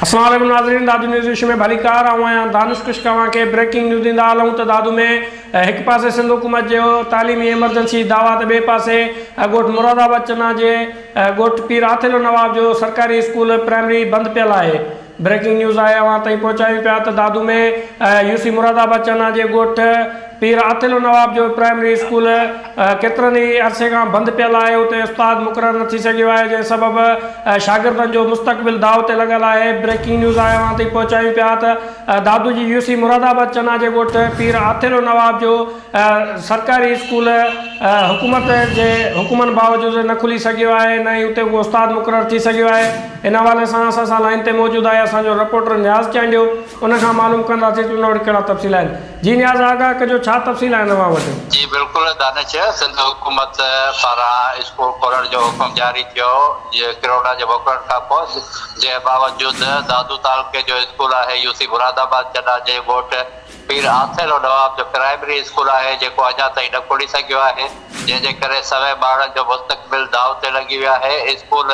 السلام عليڪم ناظرين دادو نيوز وش ۾ ڀليڪار آئون آهيان دانش ڪش اوهان کي بريڪنگ نيوز ڏيندا هلون ته دادو ۾ هڪ پاسي سنڌ حڪومت جو تعليمي ايمرجنسي دعويٰ ته ٻئي پاسي ڳوٺ مراد آباد چنا جي ڳوٺ پير آٿيلو نواب جو سرڪاري اسڪول پرائمري بند پيل آهي بريڪنگ نيوز آء اوهان تائين پهچايون پيا ته دادو ۾ يو سي مراد آباد چنا جي ڳوٺ پير عاطل النواب جو پرائمري اسڪول ڪيترن ئي عرصي کان بند پيل آهي اتي استاد مقرر نه ٿي سگهيو آهي جنهن سبب شاگردن جو مستقبل داء تي لڳل آهي بريڪنگ نيوز آء اوهان تائين پهچايون پيا ته دادو جي يو سي مراد آباد چنا جي ڳوٺ پير عاطل النواب جو سرڪاري اسڪول حڪومت جي حڪمن باوجود نه کلي سگهيو آهي نه ئي اتي ڪو استاد مقرر ٿي سگهيو آهي ان حوالي سان اسان سان لائين تي موجود آهي اسان جو رپورٽر نياز چانڊيو ان کان معلوم ڪنداسين ته ان وٽ ڪهڙا تفصيل آهن جي نياز آگاهه ڪجو ڇا تفصيل آهن اوهان وٽ. جي بلڪل دانش سنڌ حڪومت پاران اسڪول کولڻ جو حڪم جاري ٿيو ڪروڙا جي موڪلڻ کان پوء جنهن باوجود دادو تعلقي جو اسڪول آهي يوسي مراد آباد چناجي ڳوٺ پير آٿيلو نواب جو پرائمري اسڪول آهي جيڪو اڃا تائين نه کلي سگهيو آهي جنهن جي ڪري سوين ٻارڙن جو مستقبل داء تي لڳي ويو آهي اسڪول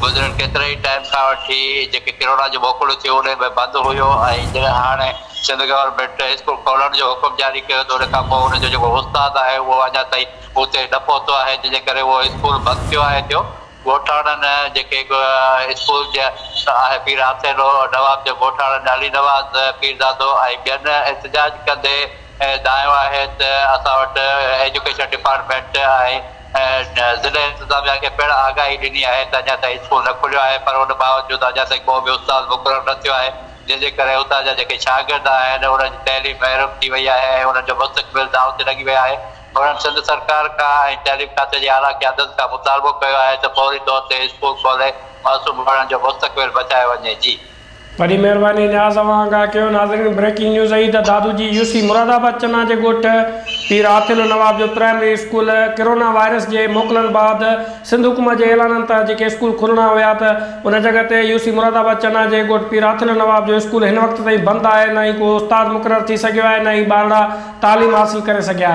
گذريل ڪيتري ئي ٽائيم کان وٺي جيڪي ڪرونا جون موڪلون ٿيون انهي ۾ بند هيو ۽ جڏهن هاڻي سنڌ گورنمينٽ اسڪول کولڻ جو حڪم جاري ڪيو ته ان کانپوء ان جو جيڪو استاد آهي اهو اڃا تائين اتي نه پهتو آهي جنهن جي ڪري اهو اسڪول بند ٿيو آهي ٿيو ڳوٺاڻن جيڪي اسڪول جي آهه پير آسيلو، نواب جو ڳوٺاڻن علي نواز پيرزادو ۽ ٻين احتجاج ڪندي دانهيو آهي ته اسان وٽ ايجوڪيشن ڊپارٽمينٽ ۽ ضلعي انتظاميا کي پڻ آگاهي ڏني آهي ته اڃا تائين اسڪول نه کليو آهي پر ان باوجود اڃا تائين ڪو به استاد مقرر نه ٿيو آهي جنهن جي ڪري اتان جا جيڪي شاگرد آهن انهن جي تعليم محروم ٿي وئي آهي ۽ انهن جو مستقبل داء تي لڳي ويو آهي. انهن سنڌ سرڪار کان ۽ تعليم کاتي جي اعليٰ قيادت کان مطالبو ڪيو آهي ته فوري طور تي اسڪول کولي معصوم ٻارڙن جو مستقبل بچايو وڃي. جي. وڏي مهرباني نياز اوهان کان ڪيو ناظرين بريڪنگ نيوز اهي ته دادو جي يو سي مراد آباد چنا جي ڳوٺ پير عاطل نواب جو پرائمري اسڪول ڪرونا وائرس جي موڪلن بعد سنڌ حڪومت جي اعلانن تحت جيڪي اسڪول کلڻا هيا ته ان جڳهه تي يو سي مراد آباد چنا جي ڳوٺ پير عاطل نواب جو اسڪول هن وقت تائين بند آهي نه ئي ڪو استاد مقرر ٿي سگهيو آهي نه ئي ٻارڙا تعليم حاصل ڪري سگهيا آهن.